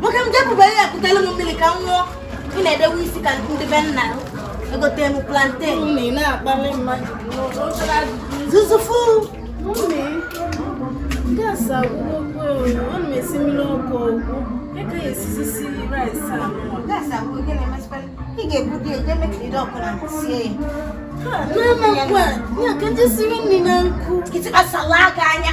nwoke m jepụba ihe a kutelu m mmiri ka m ṅụọ ị na-edewe isi ka ndị be nna egote m plantain zuzufu ị ga-ebudo ya jee mekiri ọkụ na sie ya Mama, kwa, ya ka m je siri nri na nkụ. Kịtịkpa salaka anya.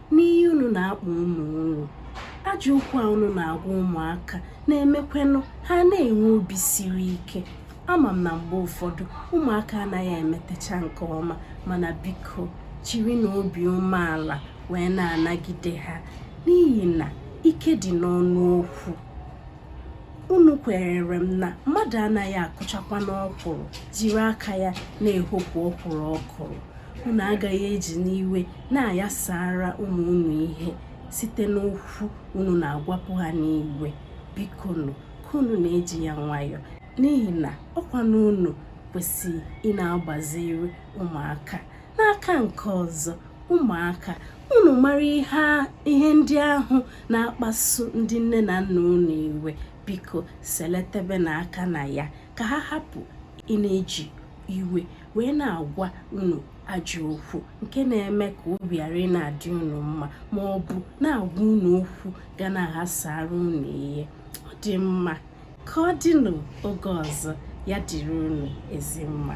n'ihe unu na-akpọ ụmụ unu ajọ okwu a unu na-agwa ụmụaka na-emekwenụ ha na-enwe obi siri ike ama m na mgbe ụfọdụ ụmụaka anaghị emetecha nke ọma mana biko jirinụ obi umeala wee na-anagide ha n'ihi na ike dị n'ọnụ okwu unu kwenyere m na mmadụ anaghị akụchakwanụ ọkwụrụ jiri aka ya na-ehopụ ọkwụrụ ọ kụrụ unu agaghị ejinụ iwe na-ayasara ụmụ unu ihe site n'okwu unu na-agwapụ ha n'iwe bikonụ ka unu na-eji ya nwayọọ n'ihi na ọ kwanụ unu kwesịrị ị na-agbaziri ụmụaka n'aka nke ọzọ ụmụaka unu mara ihe ndị ahụ na-akpasu ndị nne na nna unu iwe biko seletebenụ aka na ya ka ha hapụ ị na-eji iwe wee na-agwa unu ajọ okwu nke na-eme ka obi ghara ị na-adị unu mma ma ọ bụ na-agwa unu okwu ga na-aghasara unu ihe ọ dị mma ka ọ dịnụ oge ọzọ ya dịrị unu ezi mma